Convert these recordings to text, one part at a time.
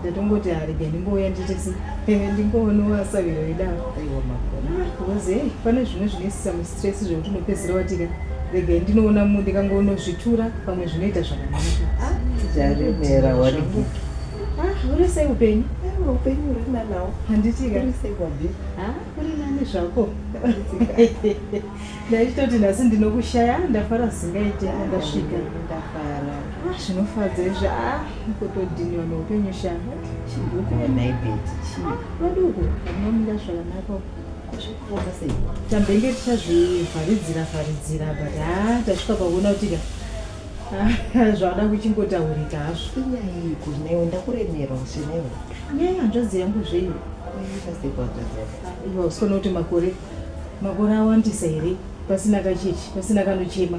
ndatongoti arege ndimbouya nditisi ndingoonowa saviro idavo bcause hey pane zvimwe zvinoisisa mustress zvekuti unopedzisira watika rega ndinoona mu ndikangoonosvitura pamwe zvinoita zvakanakaaremera ah, uri sei upenyu ah, upenyu urina nawo handitika uri sei kwabi ah, uri nani zvako ndaitoti nhasi ndinokushaya ndafara zingaite ndasvika ndafara zvinofadza izvi kutodhiniwa neupenyu shanga chiduku venaibeti chii ah, vaduku vanomuda zvakanaka kuzvikuona sei tambenge tichazvivharidzira vharidzira but ha ah, tasvika pakuona kuti ka ah, zvavada kuchingotaurika hazvo inyaiko newe ndakuremerwa senewe nyaya hanzvadzi yangu zvei iva usikona kuti makore makore awandisa here pasina kachechi pasina kanochema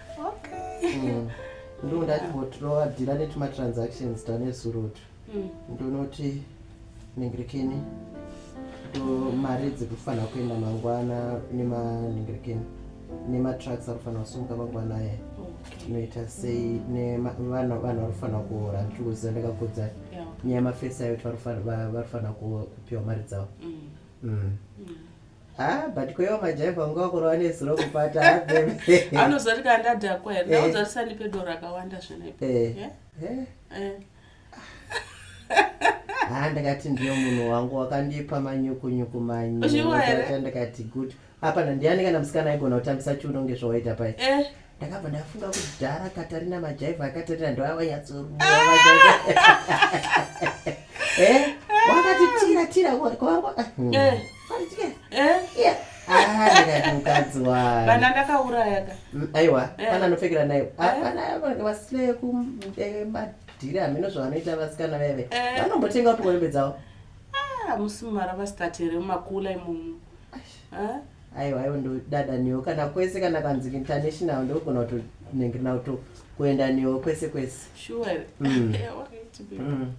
Mm. ndo ndatibotirova dhira netimatransactions tane surutu mm. ndonoti ningirikini to mari dziri kufanira kuenda mangwana nemaningirikini nematrucks ari kufanira kusumuka mangwana aya inoita sei nevanhu vari kufanira kuhora ndikuziva ndakakudza nyaya yemafesi ayo vari kufanira kupiwa mari dzavo mm. Mm. Ah, but kwaiva majaiva vanga vakora vane zuro kupata anozoti kandadhakwa here eh. nauzati sandipe doro akawanda zvinaipa eh. eh. ha ndakati ndiyo munhu wangu wakandipa manyukunyuku manyuaa ndakati good apana ndiani kana musikana aigona kutambisa chiuno kunge zvawaita pai ndakabva ndafunga kuti dhara katarina majaiva akatarina ndoavanyatsoruwa wakati tira tira kwangu eh? ah, mukadzi wavana ndakauraya ka mm, aiwa eh. pana anopfekera nayo ah, eh. vana vange vasile kumadhiri hameno zvavanoita vasikana veve vanombotenga kuti hembe dzavo ah, musi mumara vasitati here mumakula imomo aiwa aiwa ndodada newo kana kwese kana kanzi international ndogona kuti nenge nauto kuenda newo kwese kwese sure mm. mm.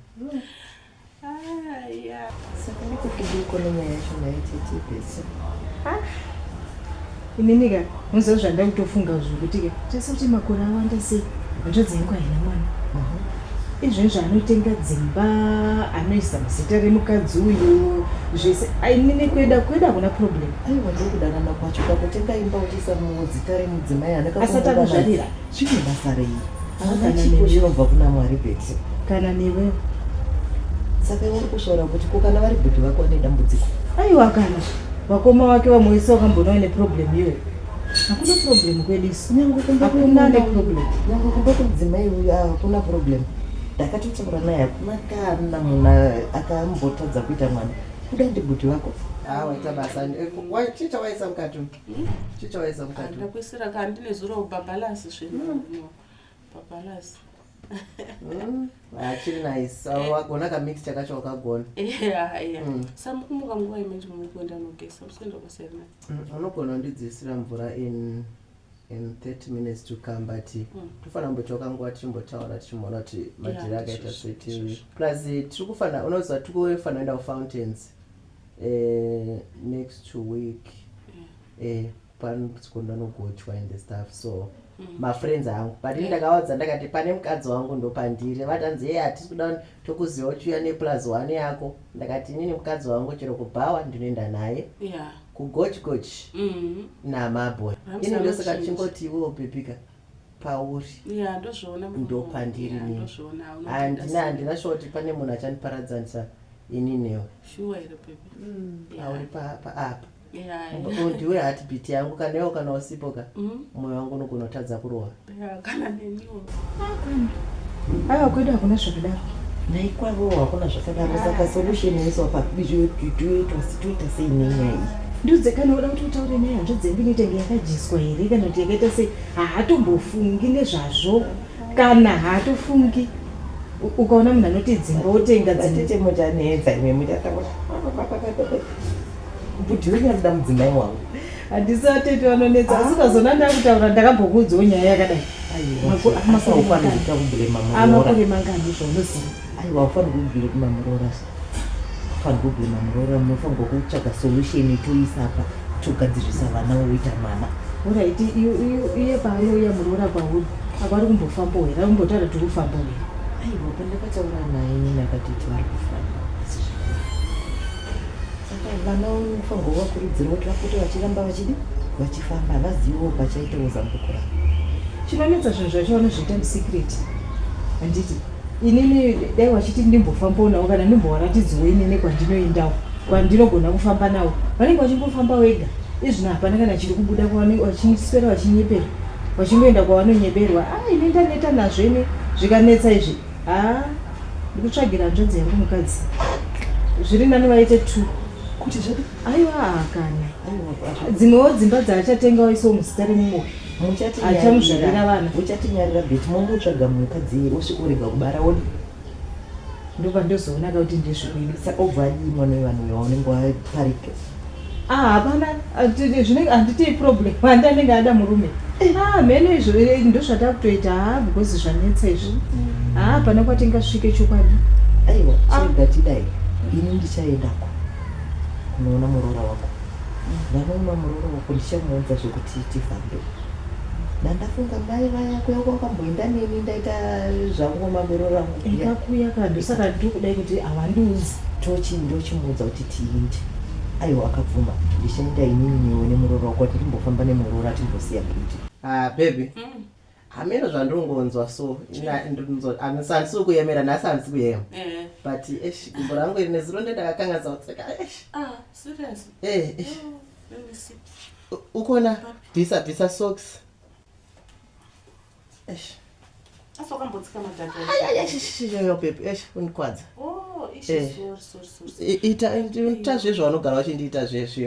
inini ka muziva zvandakutofunga zvokuti ka tese kuti makore awanda sei hanzvadzi yangu haina mwana izvezvo anotenga dzimba anoisa muzita remukadzi uyu zvese ainini kueda kueda kuna problem aiwa ndokudanana kwacho pakutenga imba uchiisa muzita remudzimai asati akuzvarira Chine basa rei? Kana chipo chinobva kuna Mwari bedzi. Kana newe. Saka uri kushora kuti ko kana vari bhudhi vako vane dambudziko. Aiwa kana vakoma wake vamwe vese wakamboona une problem iyoyo. Hakuna problem kwedu isu. Nyangu kumba kuna ne problem. Nyangu kumba kudzimai uyu hakuna ah, problem. Ndakatotaura naye hakuna kana munhu akambotadza kuita mwana. Kuda ndibhudhi vako. Ah, waita basa. Eh, Wachiita waisa mukati. chichaweza mukati ndakuisira ka ndine zuro babalance zvino hmm. babalance hmm. achiri ah, nice ah, eh. wagona kamix chakacho wakagona hmm. samukumuka nguva imene mukuenda nogesa musikuenda kwasiyana unogona undidzisira mvura in in 30 minutes to come but tofanira kumbochoka nguva tichimbotaura tichimboona kuti majira akaita seti plus tiri kufanira unoziva tiri kufanira kuenda kufountains eh, next week eh, panosiku ndanogochwa in the staff so mm. mafriends angu but ini ndakawadza ndakati pane mukadzi wangu ndopandiri vatanzi yeye hatisi kuda tokuziva uchiuya neplus one yako ndakati inini mukadzi wangu chero kubhawa ndinoenda naye kugochgoch mm. namaboy ini ndosaka chingoti iwe upepika pauri ndopandiri nini handina handina shuwa kuti pane munhu achandiparadzanisa ini newe mm. pauri paapa apa ndiwe hatbit yangu kana iwo kana usipo ka mm. mwoyo wangu unogona kutadza kurohwa aa kwedu hakuna zvakadaro naikwavo hakuna zvakadaro saka solution yaisopa bizvoitwasitoita sei nenyaya iyi ndiudze kana uda kuti utaure naye hanzva dzengu inotenge yakadyiswa here kana kuti yakaita sei haatombofungi nezvazvo kana haatofungi ukaona munhu anoti dzimba wotenga dzitete muchanetsa ime muchataurabudhi wenyu anoda mudzimai wangu handisi atete vanonetsa asi ukazoona ah. ndakutaura ndakambokuudzawo nyaya yakadai amakuremangani zvaunoziva aiwa ufanira kubuda kumamuroora paproblem muroora munofanirwa kutsvaga solution itoisa apa togadzirisa vana woita mwana orit iye paanouya muroora pauri apa ari kumbofambo here ari kumbotaura tiri kufambo here aiwa pandakataura naye nini akati tivari kufamba saka vana unofanirwa kuvakurudzira kuti vapote vachiramba vachidi vachifamba havaziviwo pachaitawo zambuko ravo chinonetsa zvinhu zvacho vanozviita musecret handiti inini dai wachiti ndimbofamboonawo kana ndimbowaratidziwo inini kwandinoendawo kwandinogona kufamba nawo vanenge vachingofamba wega izvino hapana kana chiri kubuda vachiswera vachinyepera vachingoenda kwavanonyeberwa a ah, ini ndaneta nazvo ini zvikanetsa izvi a ah, ndikutsvagira hanzvadzi yangu mukadzi zviri nani vaite two kuti aiwa kana dzimwewo dzimba dzaachatengawo iso muzita remumoyo muchatinyarira vana muchatinyarira bit momutsvaga mukadzi wosvika urega kubara wodi ndoba ndozoona ka kuti ndezvekuidi sa obva adii mwana wevanhu uyo waunenge waparika ah, hapana zvinenge handitii problem handi anenge ada murume eh. ah, mheno izvo eh, ndozvatakutoita ha ah, because zvanetsa izvi mm. ha hapana kwatingasvike chokwadi aiwa sogatidai ini ndichaendako unoona muroora wako Ndakaona muroora wako ndichamuunza zvekuti tifambe. Ndandafunga mai vaya kuya kwakamboenda neni ndaita zvangu mamiroro angu. Ikakuya kadu saka ndokudai kuti hawandiunzi. Tochi ndochimuudza kuti tiinde. Aiwa akabvuma ndichaenda inini newe nemuroora wako kuti ndimbofamba nemuroora timbosiya kuti. Ah baby. Mm. hameno zvandongonzwa so handisi handisi kuyemera nhasi handisi kuyema eh. but esh gumbo rangu iri nezuro ndendakakanganisa kutseka esh ah, eh, esh oh, ukona bvisa bvisa socks esh unikwadza oh, eh. ita zvezvaunogara uchindiita zvezve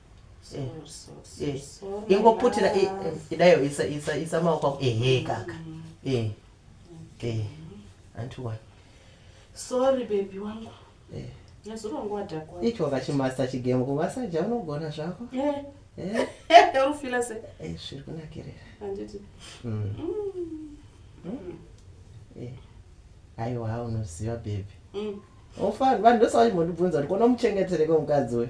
Eh. Eh. ingoputira eh, idayo isa maoko ako ehe kaka antiwa sorry bebi wangu icho vakachimasta chigemo kuvasaja unogona zvako urufila se zviri kunakirira mm. Mm. Mm. aiwa unoziva bebi vanhu ndosavachimondibvunza kuti kona muchengetereko mukadzi uyu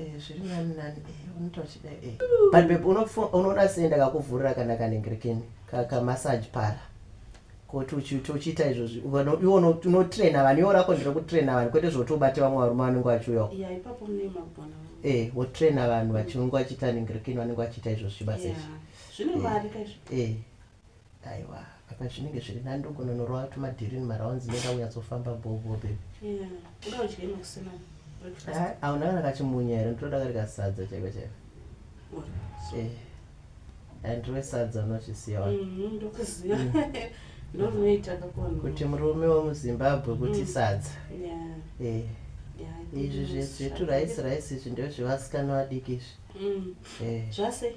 Eh, zviri nani nani eh, unoita uchida eh. but bebe unofo- unoona sei ndakakuvhurira kana kanengerekeni kamassage para koti uchiita uchiita izvozvi Uno- iwe uno- unotraina vanhu iwo rako ndiri kutraina vanhu kwete zvoti ubate vamwe varume vanenge vachiuyawo ya ipapo mune magona eh wotraina vanhu vachinenge vachiita nengerekeni vanenge vachiita izvozvi basa izvi zvine mari kaizvo eh aiwa apa zvinenge zviri nani ndogononorova tumadhirini maraunzi nenda unyatsofamba bobo bebi auna kana kachimunya here nditoda kari kasadza chaiko chaiko eh, eh, ndiro sadza unochisiya kuti murume wemuzimbabwe kuti mm. sadza eh. izvi zveturaisi raisi izvi ndozvevasikana vadiki izvi mm. zvase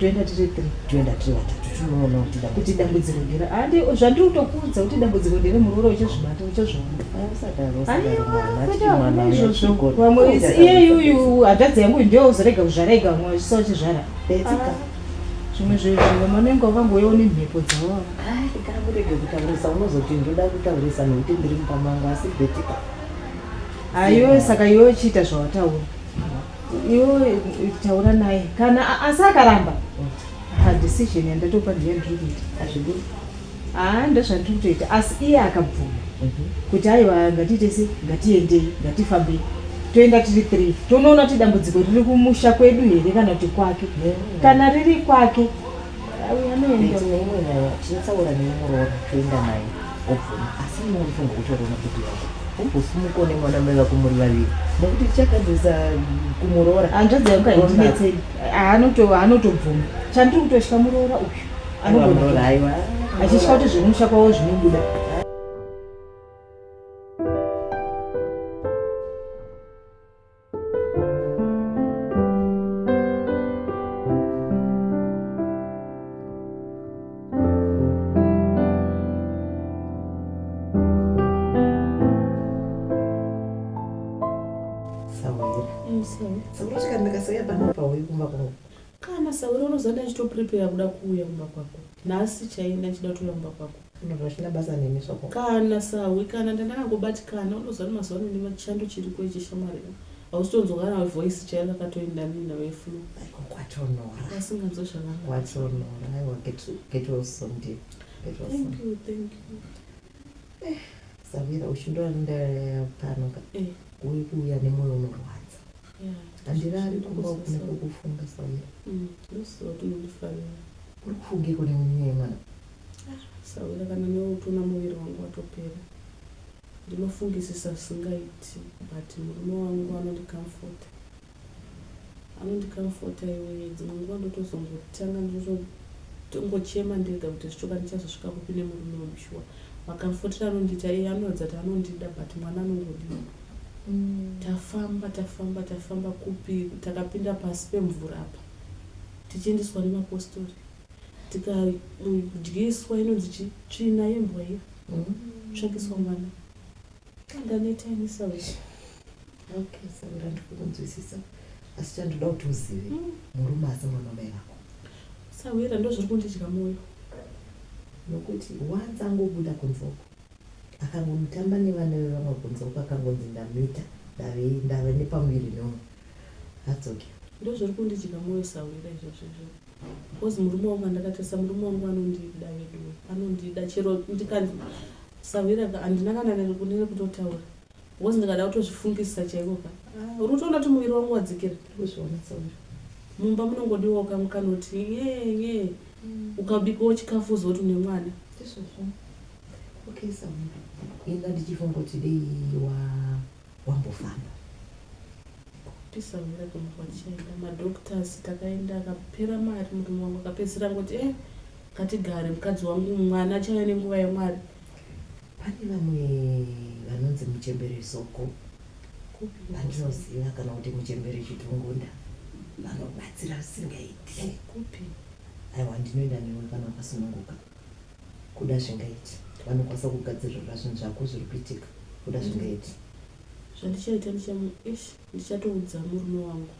toenda tiri three toenda tiri vatatu tinoona kuti kuti dambudziko ndere handi zvandiri kutokuudza kuti dambudziko ndere muroora uchazvibata uchazvionaizvozvovamwe iyeyuyu hadhadzi yangu ndiyo uzorega kuzvara ega vamwe vachisa uchizvara zvimwe zvezvi vamwe vanenge vakangoyewo nemhepo dzavo hai kana kurege kutaurisa unozoti ndoda kutaurisa nokuti ndiri mumba mangu asi betika ayo saka iwe chiita zvawataura iwe taura naye kana asi akaramba decision yandatopa ndiye ndiri kuita hazvidi haa ndozvandiri kutoita asi iye akabvuma mhm. kuti aiwa ngatiite se ngatiendei ngatifambei toenda tiri three tonoona kuti dambudziko riri kumusha kwedu here kana kuti kwake kana riri kwake tinotaura nemuroora toenda naye obvuma asi inofunga kutorona kuti yako umbosimuko nemwana mai vako muri vaviri nekuti chakadzisa kumuroora hanzvadzi yangu haindinetsei anotobvuma chandiri kutotya muroora uyu achitya kuti zvekumusha kwavo zvinobuda Kana sauro unozanda achito prepare kuda kuuya kumba kwako. Nhasi chaiye ndachida kuuya kumba kwako. Zvinhu zvachina basa nemi soko. Kana sahwi kana ndandangobatikana unozanda mazuva ano nema chando chiri kwe chishamwari. Hausitonzwa kana voice chaiye rakatoenda nini nawe flu. Aiko kwatonora. Asinganzwa zvakanaka. Kwatonora. Aiwa get get well soon dear. Get well soon. Thank you, thank you. Eh, Savira uchindonda pano ka. Eh, uyu kuuya nemoyo unorwadza. handirari kumba ukune kukufunga samira mm, uri kufunge kune munyaya mwana ah, sawira kana neutuna muviri wangu watopera ndinofungisisa singaiti but murume wangu anondikamfota anondikamfota iweye dzimwe nguva ndotozongotanga ndotongochema ndega kuti zvichoka ndichazosvika kupi nemurume wemushuwa makamfotira anondita iye anoratidza kuti anondida but mwana anongodii Tafamba tafamba tafamba kupi takapinda pasi pemvura apa tichiendeswa nemapostori tikadyiswa inonzi chi tsvina yembwa iya tsvakiswa mwana ndaneta ini sauti Okay, so ndandifuna kunzwisisa asi chandoda kuti uzive murume asi mwana wamai vako sahwira ndozviri kundidya moyo nokuti wanzi angobuda kunze uko Akangomutamba nevana vevamwe kunze uko akangonzi ndamuita ndave ndave nepamuviri noo hadzoke. Ndozviri kundidya moyo sahwira izvozvo izvozvo because murume wangu andakatarisa murume wangu anondida veduwe anondida chero ndikanzi sahwira ka handina kana nerekutotaura because ndikada kutozvifungisisa chaiko ka ah, uri kutoona kuti muviri wangu wadzikira kuzviona sahwira mumba munongodiwawo kamwe kanoti nyee nyee mm. ukabikawo chikafu uzoti une mwana ndizvozvo Okay Sam, inga ndichifunga kuti dei wa wambofamba. Kuti Sam ndakumva tichaenda madoctors takaenda akapera mari murume wangu akapedzisira ngoti eh ngatigare mukadzi wangu mwana achave nenguva yemwari. Pane vamwe vanonzi muchembere soko vandinoziva kana kuti muchembere chitungunda vanobatsira zvisingaiti. Kupi? Aiwa ndinoenda newe kana wakasununguka. kuda zvingaiti vanokwanisa kugadzirirwa zvinhu zvako zviri kuitika kuda mm. zvingaiti zvandichaita ndichamu ish ndichatoudza murume wangu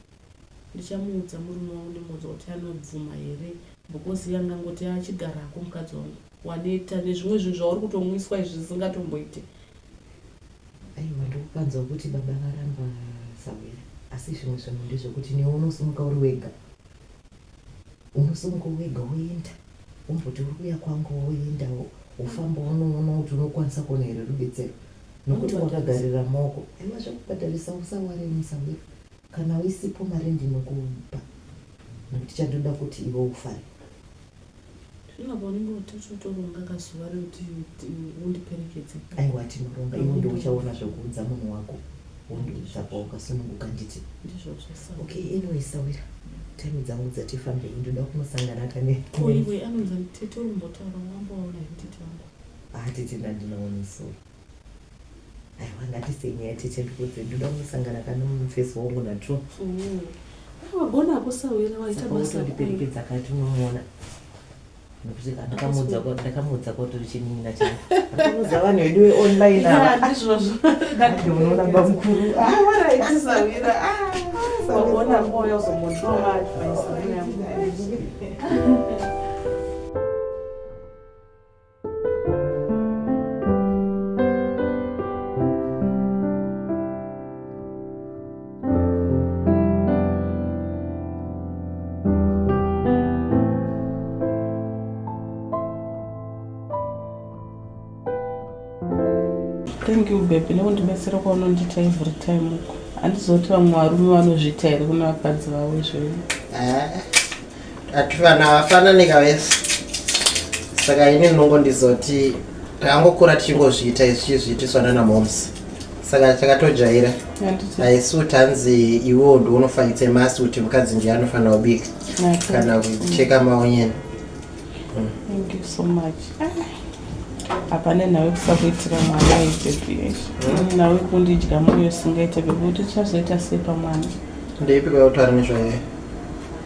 ndichamuudza murume wangu ndimuudza kuti anobvuma here because yangangoti achigarako mukadzi wangu waneta nezvimwe zvinhu zvauri kutomwiswa izvi zvisingatomboite aiwa ndikukanzwa kuti baba varamba sawira asi zvimwe zvinhu ndezvekuti newe unosimuka uri wega unosongo wega woenda umboti uri kuya kwangu woendawo ufamba unoona kuti unokwanisa kuona here rubetsero nokuti wakagarira moko aiwa zvekubhadharisa usawaremisa we kana uisipo mari ndinokupa nokuti chandoda kuti iwe ufare Zvino paunenge watoti utoronga kazuva rekuti undiperekedze. Aiwa tinoronga iwe ndiwe uchaona zvekuudza munhu wako wondibvisa pawakasununguka nditi. Ndizvozvo sa. Okay anyway sawira. Time dzangu dzati fambei ndoda kunosangana kane. Ko iwe anonzi tete urumbotaura wamboona kuti tangu. Ah tete ndandinoona so. aiwa ngatisenyaya tete ndikuudze ndoda kunosangana kana mufesi wangu natwo mm. wagona kusahwira waita basandiperekedza kati unomuona nokuti ndakamuudza ndakamuudza kwatori chinin'ina changu akamuudza vanhu vedu weonline avandizvozvounoona bamukuru awaraitisaira wagona moyo uzomotoa advice thank you baby nekundibetsera kwaunondiita every time uko handizoti vamwe varume vanozviita here kune vakadzi vavo izvoivo Ati vanhu havafanani kavese, saka ini ndinongo ndizoti takangokura tichingozviita izvi chizviitiswa nana moms saka takatojaira haisi kuti hanzi iwewo ndi unofakitse masi kuti mukadzi ndiye anofanira kubika kana kucheka maonyeni hapane nhau kusakuitira mwana ibebish hmm? nhau kundidya moyo singaite bekuti tichazoita sei pamwana ndeipi kwautari nezvaye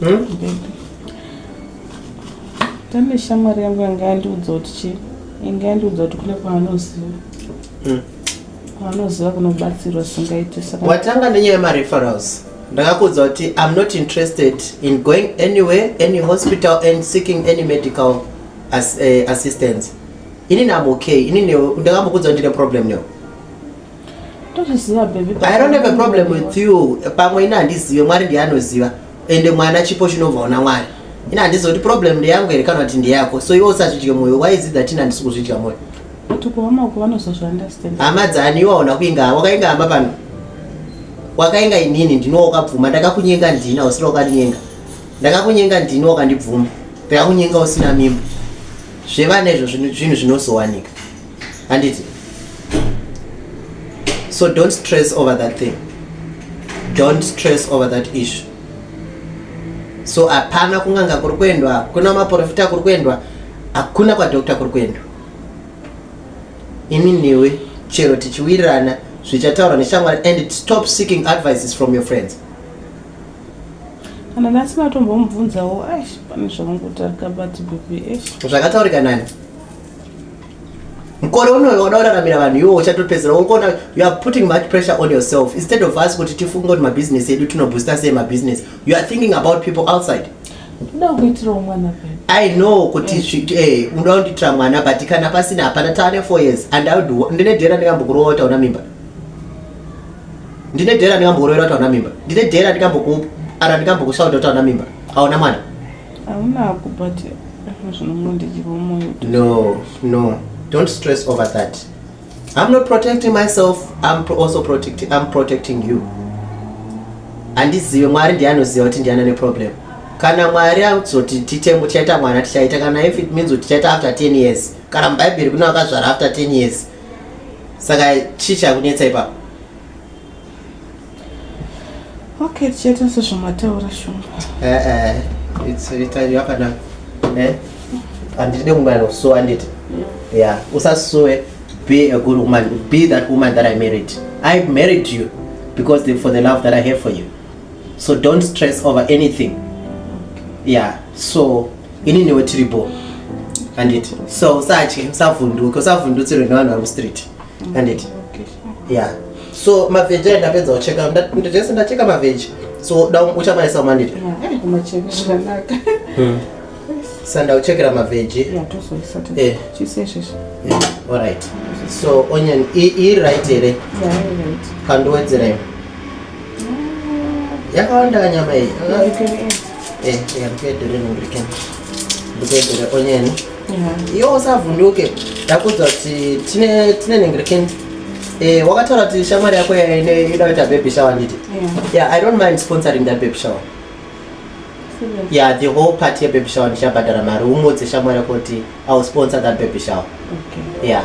Hmm? Tane shamwari yangu yanga yandiudza kuti chii? Yanga yandiudza kuti kune kwaanoziva. Hmm. Kwaanoziva kunobatsirwa singaite saka. Watanga nenyaya yemareferrals. Ndakakuudza kuti I'm not interested in going anywhere, any hospital and seeking any medical as, uh, assistance. Inini I'm okay. Inini ndakambokuudza kuti ndine problem newe. tozviziva baby i don't have a problem with you pamwe ini handizive mwari ndiye anoziva ende mwana chipo chinobva una mwari ini handiziva kuti problem ndeyangu here kana kuti ndeyako so iwe usazvidye mwoyo why is it that ini handisi kuzvidya mwoyo hama dzani iwe hauna kuinga wakainga hama pano wakainga inini ndino wakabvuma ndakakunyenga ndina usina wakandinyenga ndakakunyenga ndino wakandibvuma ndakakunyenga usina mimba zvevana izvo zvinhu zvinozowanika handiti so don't stress over that thing don't stress over that issue so hapana kunganga kuri kuendwa hakuna maprofita kuri kuendwa hakuna kwadokta kuri kuendwa ini newe chero tichiwirirana zvichataurwa neshamwari and stop seeking advices from your friends kana nasi matombomubvunzawo ash pane zvamungotarika bati bp ash zvakataurika nani mkore unoyo wada uraramira vanhu iwo uchatopedzera unokuona you are putting much pressure on yourself instead of us kuti tifunge kuti mabusiness edu tinoboosta sei mabusiness you are thinking about people outside i know kuti eh. eh, unoda kundiitira mwana but kana pasina hapana taane four years and ndine dhera ndikambokurowa tauna mimba ndine dhera ndikambokuroera tauna mimba ndine dhera ndikambokuara ndikambokusauda tauna mimba aona mwana haunako but zvinomondidyiwa moyo no no don't stress over that i'm not protecting myself i'm pro also protecting, I'm protecting you handizive mwari ndiye anoziva kuti ndiana neproblem kana mwari azoti titemo tichaita mwana tichaita kana if it means kuti tichaita after 10 years kana mubhaibheri kune vakazvara after 10 years saka chii chakunetsa ipapo Okay, tichaita sezvamataura shumba. Eh eh, it's ita yakanaka. Eh? Andide kungana kusuwa anditi. Yeah, usasuwe be a good woman, be that woman that I married. I married you because the, for the love that I have for you. So don't stress over anything. Yeah, so ini niwe tiripo. Anditi. So usatye, usavhunduke, usavhundutsirwe nevanhu vari mustreet. handiti ya so mavheji ayi ndapedza kucheka ndese ndacheka mavheji so da uchamaisa manditi hmm. sanda uchekera mavheji eh. orit so onion iri right here kandiwedzerei yakawanda nyama iyi eh, ndikuedere onion iwe usavhunduke ndakuudza kuti tine tine nengerekeni eh, wakataura kuti shamwari yako inoda kuita baby shower nditi yeah i don't mind sponsoring that baby shower yeah the whole party yebaby shower ndichabhadhara mari umudze shamwari yako kuti i will sponsor that baby shower okay. yeah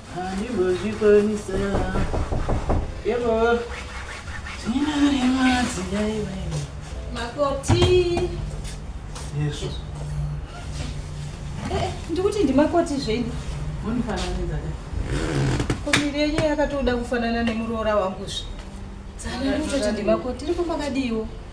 handimbozvikwanisa yebo ndinaremadzi yaiva makoti yesu eh, ndikuti ndimakoti zvenyu munifananidza ka komiri yenyu yakatoda kufanana nemuroora wangu zve dzana ndikutoti ndimakoti tiri kumbakadiiwo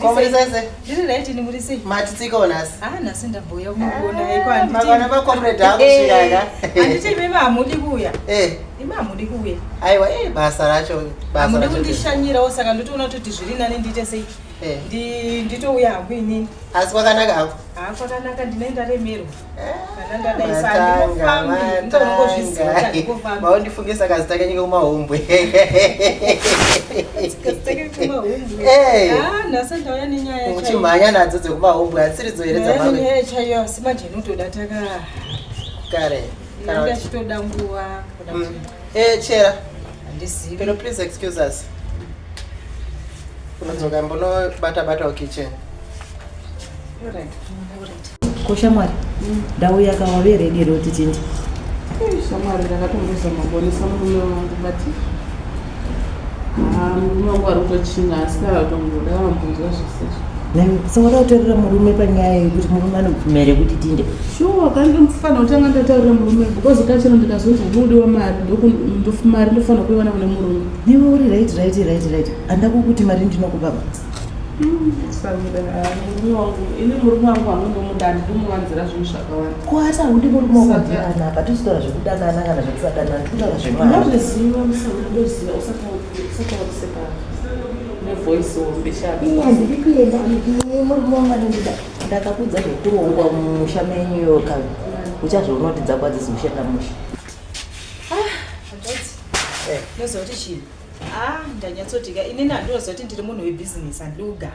Komurisese. Ndiri right ni murise. Mati tsika onasi. Ah nasi ndabhoya kumugona ah, iko anditi. Mabana ba comrade ako eh, shiyaka. Anditi mimi amudi kuya. Eh. Mimi amudi kuya. Aiwa eh basa racho basa. Amudi kundishanyira osaka ndotoona kuti zviri nani ndiite sei. Eh. Ndi nditouya hangu inini. Asi kwakanaka hako. Ah kwakanaka ndine ndaremerwa. maundifunge saka zita kanyike kumahumbwe muchimhanya nadzo dzekumahumbwe hatsiridzo here dzakare ndachitoda nguva mm. eh, chera peno please excuse us unodzoka mbonobata batawo kitchen ko shamwari ndauya ka wave redi here kuti tiende Eh, shamwari ndakatombozama kuonesa murume wangu but ah, murume wangu ari kutochinga asi kavatongoda vambonzwa zvisizvo Nani, sawada kutorera murume panyaya yekuti murume anobvumira here kuti tiende shuwa ka ndofanira kutanga ndataurira murume because kachero ndikazonzi hudi wamari ndoku- ndof- mari ndofanira kuiwana kune murume iwe uri right right right right handako kuti mari ndinokupa ba kuasa hudi murume wakudanana apa tizotaura zvekudanana kana zvekusadanana tikutora zvemandiri kuenda murume wangu anondida ndakakudza zvekurongwa mumusha menyu ka uchazvionotidza kwadzizi kushenda musha ah, eh. nozoti chii Ah, ndanyatsodika. Ini ndandoziva kuti ndiri munhu webusiness handidi kugara.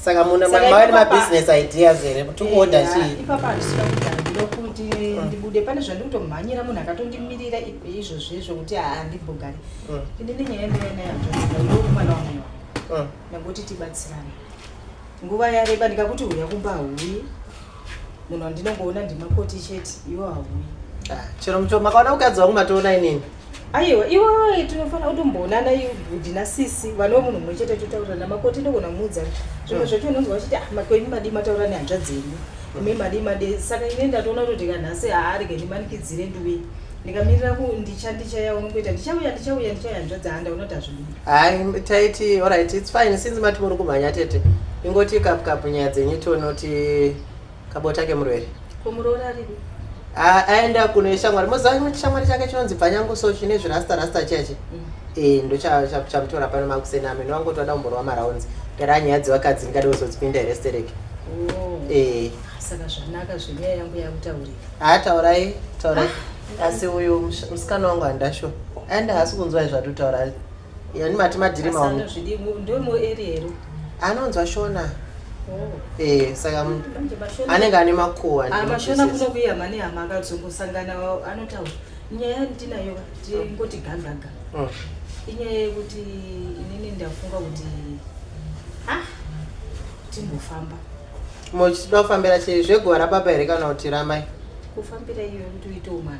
Saka muna Saka mava ipapa- nemabusiness ideas here kuti kuoda Eya, chii? Ipapa handisina kugara ndiro kuti ndibude pane zvandiri kutomhanyira munhu akatondimirira ipo izvozvo izvo kuti haa handimbogari. Mm. Ini nenyaya yandinai nayo hanzvadzi yangu yokumwana wangu wangu. Mm. Ndangoti tibatsirane. Nguva yareba ndikakuti huya kumba hauyi. Munhu wandinongoona ndimakoti chete iwo hauyi. Ah, Chero muto makaona mukadzi wangu matoona inini. aiwa iwe tinofanira kutomboonana bhudhi nasisi vana vemunhu mumwe chete totaurirana makoti ndogona muudza zvimwe zvacho unonzwa vachiti ah, makwenyu madii mataura nehanzvadzi yenyu imi madii madii saka ine ndatoona kuti ndikanhasi haarege ndimanikidzire nduwe ndikamirira kundicha ndichaya unongoita ndichauya ndichauya ndichauya hanzvadzi handa unoti hazvidi hai taiti orit its fine since mati muri kumhanya tete ingoti kapukapu nyaya dzenyu tionoti Kabota kemurwere. Kumuroora aripi? Ah, aenda kuno shamwari. Moziva imwe shamwari chake chinonzi Bvanyangu so chine zvirasta rasta chache. Mm. Eh, ndo chamutora pano makuseni ame no wangu toda umborwa maraunzi. Gara nyaya dzevakadzi ndingade kuzozipinda here stereki. Oh. Eh. Saka zvanaka zvenyaya yangu yakutaurira. Ah, taurai, taurai. Ah. Asi uyu musikana wangu handasho. Aenda hasi kunzwa izvatotaura. yani mati madhiri maono anonzwa shona oh. eh, saka anenge ane makuwamashona ah, kuno kuya mane hama akazongosangana anotaura nyaya ndinayo tingoti gangaga mm. inyaya yekuti inini ndafunga kuti ah timbofamba mochitida kufambira chei zveguva rababa here kana kuti ramai kufambira iyo yekuti uite umana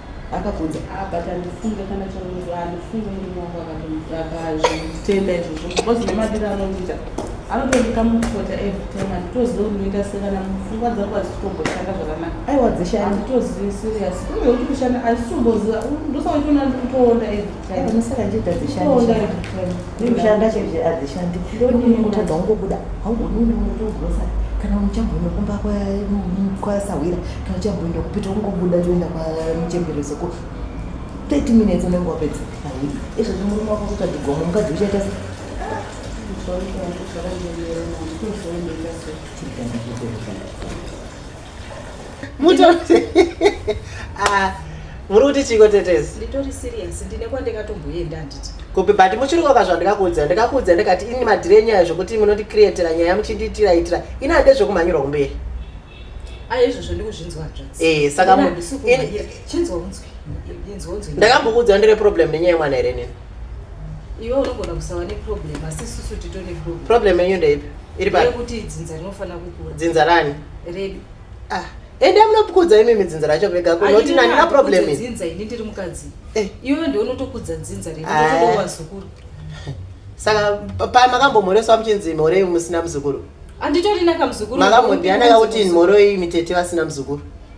akabvunza ah, but andifunge kana chamuruva andifunge murume wangu akazvitenda izvozvo because nemadiro anondiita anotondika mukota every time anditozive kunoita sekana mupfungwa dzangu adzitotomboshanda zvakanaka aiwa dzeshe anditozivi serious uye kuti kushanda anditotomboziva ndosaoitona ndikutoona izvi Unosaka nje tadzishanda. Ndikushanda chete adzishandi. Ndikutadza kungobuda. Haugoni unoita ugrosa. Kana uchamboenda kumba kwa kwa sawira. Kana uchamboenda kupita ungobuda toenda kwa muchembere soko. 30 minutes unenge wapedza. Izvo zvimurume wako kuti adigoma mukadzi uchaita sei? Thank you. ah, muri kuti chiko tetezi nditori serious ndine kwandikatomboenda handiti kupi but muchiri kwaka zvandikakuudza ndikakuudza ndikati ini madhire nyaya zvokuti munondikrietera nyaya muchindiitira itira ini hande zvekumhanyirwa kumberi aizvozvo ndikuzvinzwa hanzvadzi eh, saka chinzwa unzwi ndakambokuudza ndine problem nenyaya yemwana here nini iwe unogona kusava neproblem asi isusu tito neproblem problem yenyu ndeipi iri pakuti dzinza rinofanira kukura dzinza rani redu ah ende munopukudza imi midzinza racho vega kunoti nani na problem dzinza ini ndiri mukadzi eh. iwe ndiwe unotokudza dzinza redu ah. ndotoda vazukuru saka pa makambomhoreswa muchinzi mhorei musina muzukuru anditorina kamuzukuru makamhodiana kakuti mhoroi mitete vasina muzukuru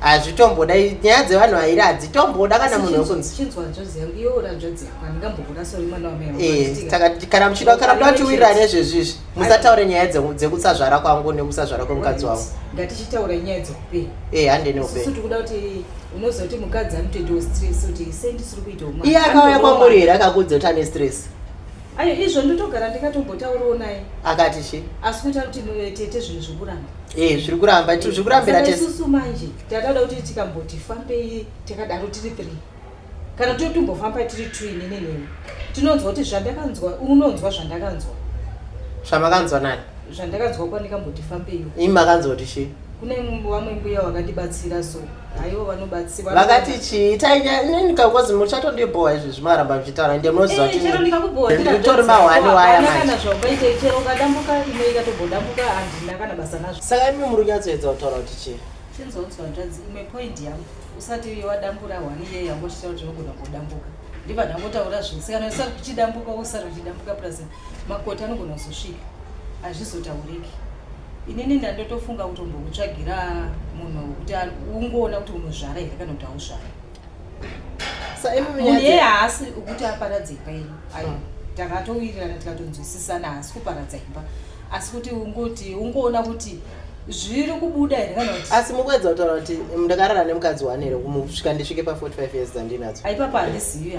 hazvitomboda nyaya dzevanhu airi hadzitomboda kana munhu wekunkana muchida kana muda kutiwirira nezvezvizvi musataure nyaya dzekusazvara kwangu nekusazvara kwemukadzi wangu ngatichitaura nyaya dzeupenyu eh, handene upenyu tikuda kuti unozoti mukadzi anotoitawo stress kuti sei ndisiri kuitawo iye akauya kwamuri here akakuudza kuti ane stress Ayo izvo ndotogara ndikatombotaurawo naye. Akati chi? Asi kuita kuti mwe tete zvinhu zvikuramba. Eh zviri kuramba tu zvikurambira tese. Isusu manje tatauda kuti tikamboti fambei takadaro tiri 3. Kana kuti tombofamba tiri 2 ini neni. Tinonzwa kuti zvandakanzwa unonzwa zvandakanzwa. Zvamakanzwa nani? Zvandakanzwa kwandikamboti fambei. Imi makanzwa kuti chi? kune vamwe mbuya vakatibatsira so aivo vanobatsira vakati chii tainikakozi muchatondibhowa izvi zvimaramba muchitaura ende munoziva eh, titori mahwani wayasaka imi muri kunyatsoedza kutaura kuti chii usati wadambura hwani iye yangoshita kuti unogona kudambuka ndiva ndangotaura zvisikana usati kuchidambuka usati uchidambuka plus makoti anogona kuzosvika hazvizotauriki Inini ndandotofunga kutombokutsvagira munhu wekuti ungoona kuti unozvara here kana kuti hauzvara. Munhu iye haasi ukuti aparadze imba yenyu. Ayo ah. takatowirirana tikatonzwisisana haasi kuparadza imba. Asi kuti ungoti ungoona kuti zviri kubuda here kana kuti asi mukuedza kutaura kuti ndakarara nemukadzi wani here kumusvika ndisvike pa 45 years dzandinadzo aipapa handizivi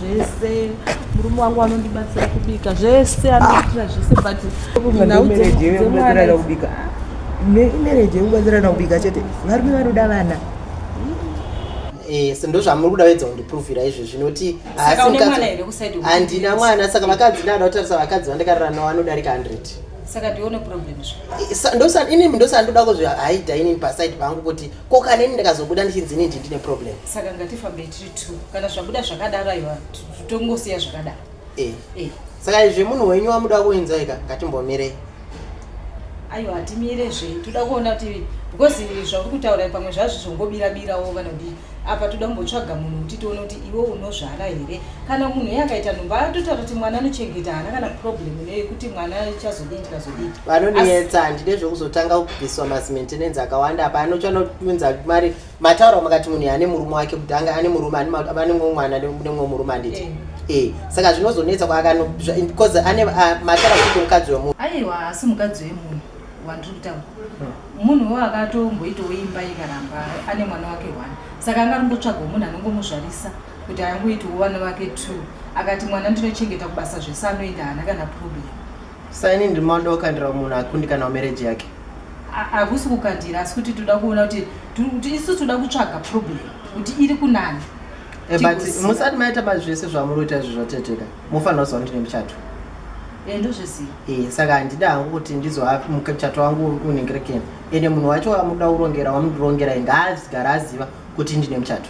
zvese murume wangu anondibatsira kubika zvese anoitira zvese butmereje yekubatsirana kubika chete varume vanoda vana yes ndozvamuri kuda wedza kundipruvira izvi zvinoti handina mwana saka vakadzi ndada kutarisa vakadzi vandikarira navo vanodarika 100 saka ndione problem ndosa inini ndosa ndoda kuzvihaida inini paside pangu kuti ko kaneni ndikazobuda ndichinzi inini ndine problem saka ngatifambe kana zvabuda zvakadaro aiwa tongosiya zvakadaro eh. eh. saka izvi munhu wenyu wamuda kuinzai ka ngatimbomirei aiwa hatimire zve toda kuona kuti because zvauri kutaura pamwe zvazvo zvongobirabirawo vanodii apa toda kumbotsvaga munhu kuti tione kuti iwe unozvara here kana munhu ye akaita nhumba atotaura kuti mwana anochengeta haana kana problem neyekuti mwana chazodii ndikazodii vanonetsa handide zvekuzotanga kubviswa masimentenance akawanda apa anochanounza mari mataura makati munhu ane murume wake kuti anga ane murume ane mumwe mwana nemumwe murume anditi eh. eh, saka zvinozonetsa kwaakanobeause ane ah, mataura kuti mukadzi wemunhu aiwa asi mukadzi wemunhu wandiri kutaura hmm. munhuwo akatomboitawo imba ikaramba ane mwana wake one saka anga arimbotsvagawo munhu anongomuzvarisa kuti angoitawo vana vake two akati mwana ndinochengeta kubasa zvese anoenda hana kana problem Saini ndiri mauda kukandira munhu akundikana marriage yake. Hakusi kukandira asi kuti toda kuona kuti kuti isu toda kutsvaga problem kuti iri kunani. Eh, but musati maita mazvese zvamuri kuita izvi zvateteka mofanira kuziva kuti nemuchato. Eh, ndozviziva. Eh, saka handida hangu kuti ndizova muchato wangu unenge rekeni. Ende munhu wacho wamuda kurongera wamundirongera ngaazigara aziva kuti ndine muchato.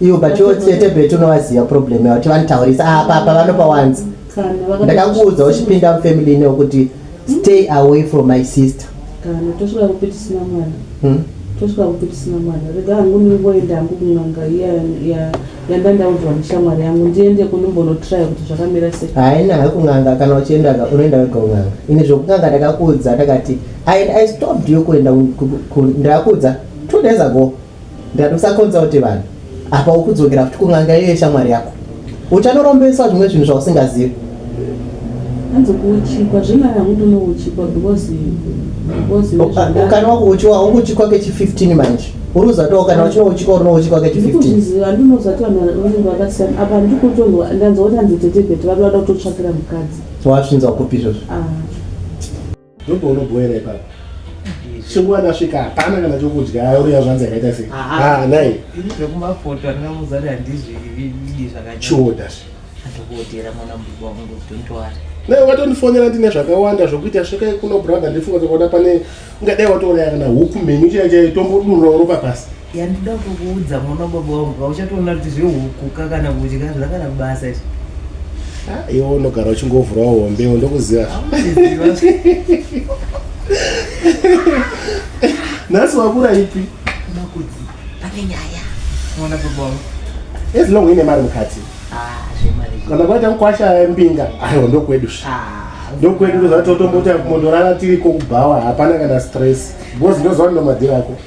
iwo but iwo tete betu unovaziva problem yavo ti vanitaurisa ah, apa apa vanopa wanzi ndakakuudza uchipinda mufamily inewo kuti stay away from my sister kana tosvika kupi tisina mwana hmm? tosvika kupi tisina mwana rega hangu ndingoenda hangu kun'anga iya yanga ndaudzwa neshamwari yangu ndiende kunimbonotraya kuti zvakamira sei haina ha kun'anga kana uchienda unoenda wega kun'anga ini zvokun'anga ndakakuudza ndakati i stopped yo kuenda ndakakuudza two days ago Ndatosakonza kuti vanhu apa ukudzokera futi kun'anga iyo yeshamwari yako. Uchanorombeswa zvimwe zvinhu zvausingazivi. Hanzi kuuchikwa zvino hangu ndinouchikwa because because O- a- nezvandari- Ukana wako uchiwa ukuchikwa kechi 15 manje. Uri kuzatoa ukana wachino uchikwa uri nouchikwa kechi 15. ndikuzviziva ndinozati vanhu vanenge vakasiyana apa ndikutonzwa ndanzwa kuti hanzi tete bheti vari vada kutotsvakira mukadzi Wasvinzwa kupi izvozvo? Ah, Ndopo unobhoera ipapa. Shinguwa ndasvika hapana kana chokudya auya zvanzi akaita sei. Ah nai. Ini zvekumafoto andina muzari handizvidi zvakanyanya. Choda. Ndokotera mwana mbuba wangu don't worry. Nai watondifonera ndine zvakawanda zvokuita svika kuno brother ndifunga kuti pane ungadai watoona kana huku mheni chaichai tombodurura ropa pasi. Yandida kukuudza mwana baba wangu kauchatoona kuti zvehuku ka kana kudya zvakana basa izvi. Ah, iwe unogara uchingovhura hombe ndokuziva nhasi wakura ipi makudzi pane nyaya mwana baba wangu as long uine mari mukati ah, kana kwaita mukwasha mbinga aiwa ndokwedu zve ah, ndokwedu ndozvatotomboti mundorara tiri kokubhawa hapana kana stress because ndoziva ndinomadhiri ako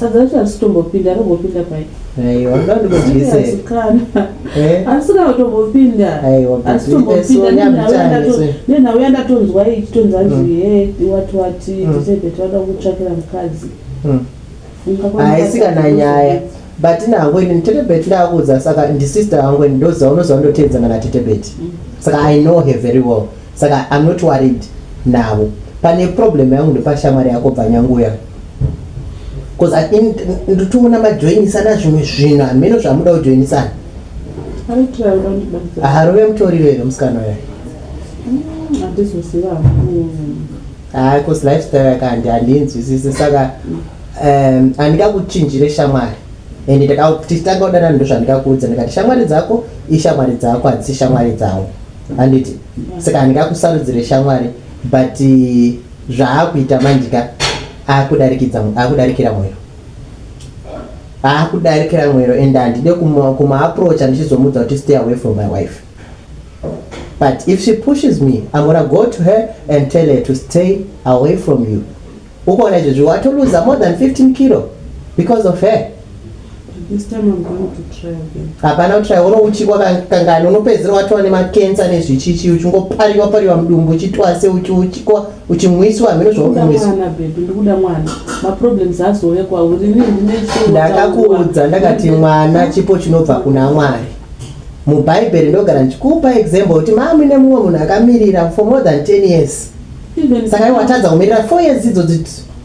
Sadza racho harisitombopinda rombopinda pai? Aiwa, ndoda ndikudyise. Asi kana. Eh? Asi kana utombopinda. Aiwa, asi tombopinda nenhauya nenhauya ndatonzwa ichitonza nzi mm. he wati wati mm. tisebe toda kutsvakira mukadzi. Mm. Haisi kana nyaya. But nangu ini tetebet ndakuudza saka ndisister yangu ini ndoziva unoziva ndoteedza kana tetebet. Saka I know her very well. Saka I'm not worried navo. Pane problem yangu ndopashamwari yako bvanyanguya. bcause ndituma namajoinisana zvimwe zvinhu hameno zvamuda kujoinisana harove mutori rero musikana uya hayi bcause lifestyle yakandi handinzwisisi saka um, handikakuchinjire shamwari and tichitanga kudanana ndo zvandikakuudza ndikati shamwari dzako ishamwari dzako hadzisi shamwari dzavo handiti saka handikakusarudzire shamwari but Zvaakuita manje ka akudarikidza akudarikira mwero akudarikira mwero and handide kumaaproacha ndichizomudza kuti stay away from my wife but if she pushes me i'm gonna go to her and tell her to stay away from you ukaona izvezvi watoluza more than 15 kilo because of her hapana kutraya unouchikwa kangani unopedzera watova nemakensa nezvichichi uchingopariwa pariwa mudumbu uchitwase uchiuchikwa uchimwiswa hameno zvaukuiswandakakuudza ndakati mwana chipo chinobva kuna mwari mubhaibheri ndogara ndichikupa example kuti mami nemumwe munhu akamirira for more than 10 years saka iwatadza kumirira four years idzo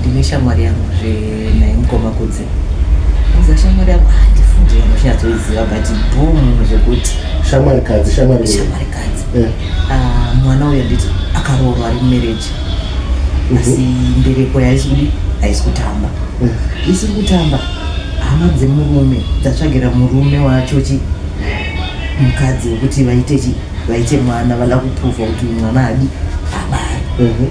ndine shamwari yangu zve naye mukoma kudzi uza shamwari yangu handifungi ah, vanochinyatsoiziva but boom zvekuti shamwari kadzi shamwari shamwari kadzi eh. ah, mwana uyo nditi akaroorwa ari mumereji mhm. asi mbereko yaisi kudi haisi kutamba eh. isiri kutamba hama dzemurume dzatsvagira murume wachochi mukadzi wekuti vaite chi vaite mwana vada kupruvha kuti mwana adi abari mhm.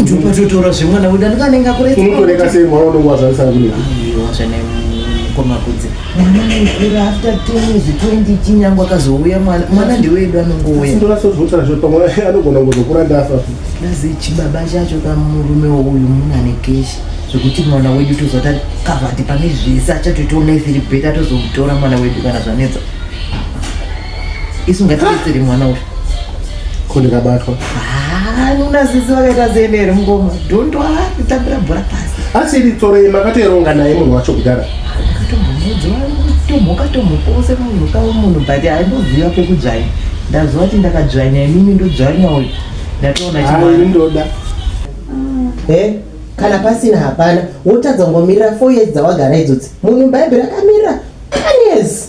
ndopatotora zvemwana wedu andikanenge akureunongoneka sei mwana unenge wazvarisana kune zvene mukoma kudzi mwana mukura after twenzi twenty chinyango akazouya mwana mwana ndewedu anongouya ndorasozvotarazvo pamwe anogona kuzokura ndafa dazi chibaba chacho kamurume uyu muna nekeshi zvekuti mwana wedu tozota kavati pane zvese achatoitaona isiri beta tozomutora mwana wedu kana zvanetsa isu ngatibetsere mwana uyu ko ndikabatwa unazizi vakaita zene here mungoma dhondo itambira bhora pasi asi iri tsoro ye makatoeronga naye munhu wacho kudhara tomhoka tomhoka ose munhu kawo munhu but aindoziva pekudzvanya ndaziva kuti ndakadzvanya imimi ndodzvanya uyu ndatoona chimwana ndoda eh? kana pasina hapana wotadza kungomirira four years dzawagara idzodzi munhu bhaibheri akamirira ten years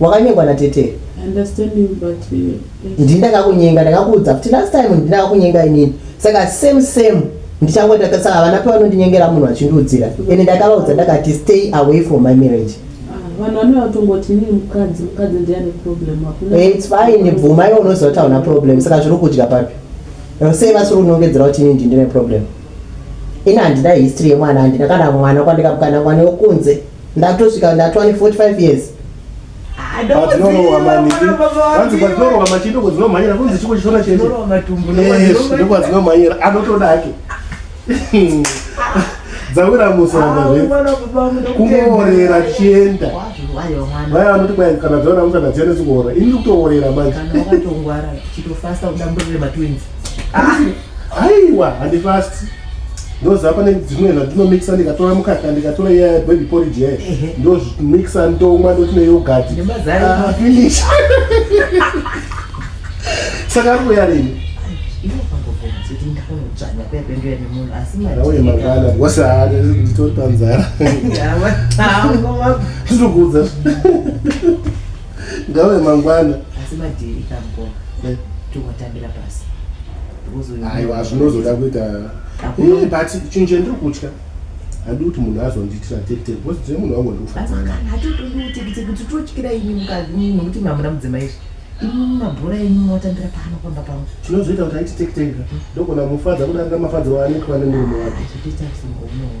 Wakanyengwa na tete. I understand you but uh, Ndini ndakakunyenga ndakakuudza futi last time ndini ndakakunyenga inini. Saka same same ndichangoita ka- saka havana pavanondinyengera munhu achindiudzira. Ende ndakavaudza ndakati stay away from my marriage. ah, vanhu vanouya kutongoti inini mukadzi mukadzi ndiye ane problem hakuna Eh, It's fine bvuma iwe unoziva kuti hauna problem saka zviri kudya papi? Eh, Sei vasiri kunongedzera kuti inini ndine problem? Ini handina history yemwana handina kana mwana kwandikamuka namwana wekunze. Ndatosvika ndatwa ne 45 years. dzawira musana kungoorera chienda vaya vanoti kwai kana dzaona musana dziende dzikuora ini ndikutoorera manje Aiwa handifasti ndoziva pane dzimwe zvandinomixa ndikatora mukaka ndikatora iya baby porridge yayo ndozvimixa ndomwa ndoti neyogati ah, finish saka ari kuya rini auye mangana because nditori panzara zvinokuudza Ngawe mangwana. Asi madhiri kamkoma. Eh. Tungotambira pasi. Aiwa zvinozoda kuita. Eh but chinhu chandiri kutya. Hadi kuti munhu azondiitira tekiteki because tine munhu wangu ndikufanana. Hatotodi tekiteki kuti totyira ini mukadzi munhu kuti mamuna mudzimai izvi. Ini mabhora enyu motambira pano pamba pangu. Chinozoita kuti aiti tekiteki ndogona mufadza kudarika mafadzi waanenge pane murume wake. Hazvitoita kuti munhu unowo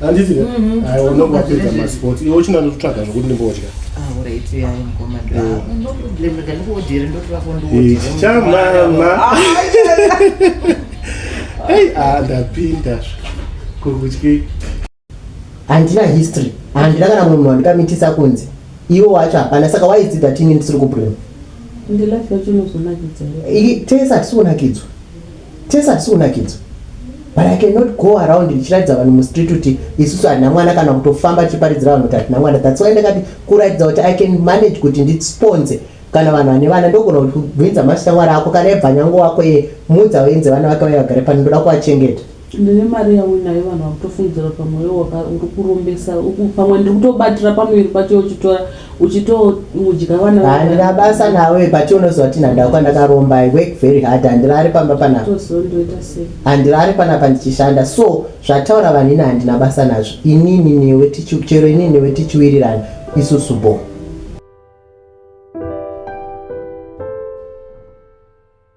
handiti mhm. aiwa unenge wapedza masport iwe uchinga ndototsvaga zvokuti ndimbodya chamama ei a ndapinda kuri kutyei handina history handina kana munhu wandikamitisa kunzi iwo wacho hapana saka waidzidza tini ndisiri kubrema tese hatisi kunakidzwa Tese hatisi kunakidzwa but i cannot go around ndichiratidza vanhu mustreet kuti isusu hatina mwana kana kutofamba tichiparidzira vanhu kuti hatina mwana thats why ndakati kuratidza kuti i can manage kuti ndisponse kana vanhu vane vana ndogona kuti kubvinza mashamwari ako kana ebva nyango wako ye mudza uenze vana vake vaya vagare pano ndoda kuvachengeta ndine mari yauinayo vanhu vakutofungidzira pamweyo uri kurombesa pamwe ndiri kutobatira pamuviri pacho uchitora uchitodya vana handina basa nawe but unoziva kuti nhandau kwandakaromba i work very hard handirari pamba panapa handirari panapa ndichishanda so zvataura vanhu ini handina basa nazvo inini newe chero inini newe tichiwirirana isusu boo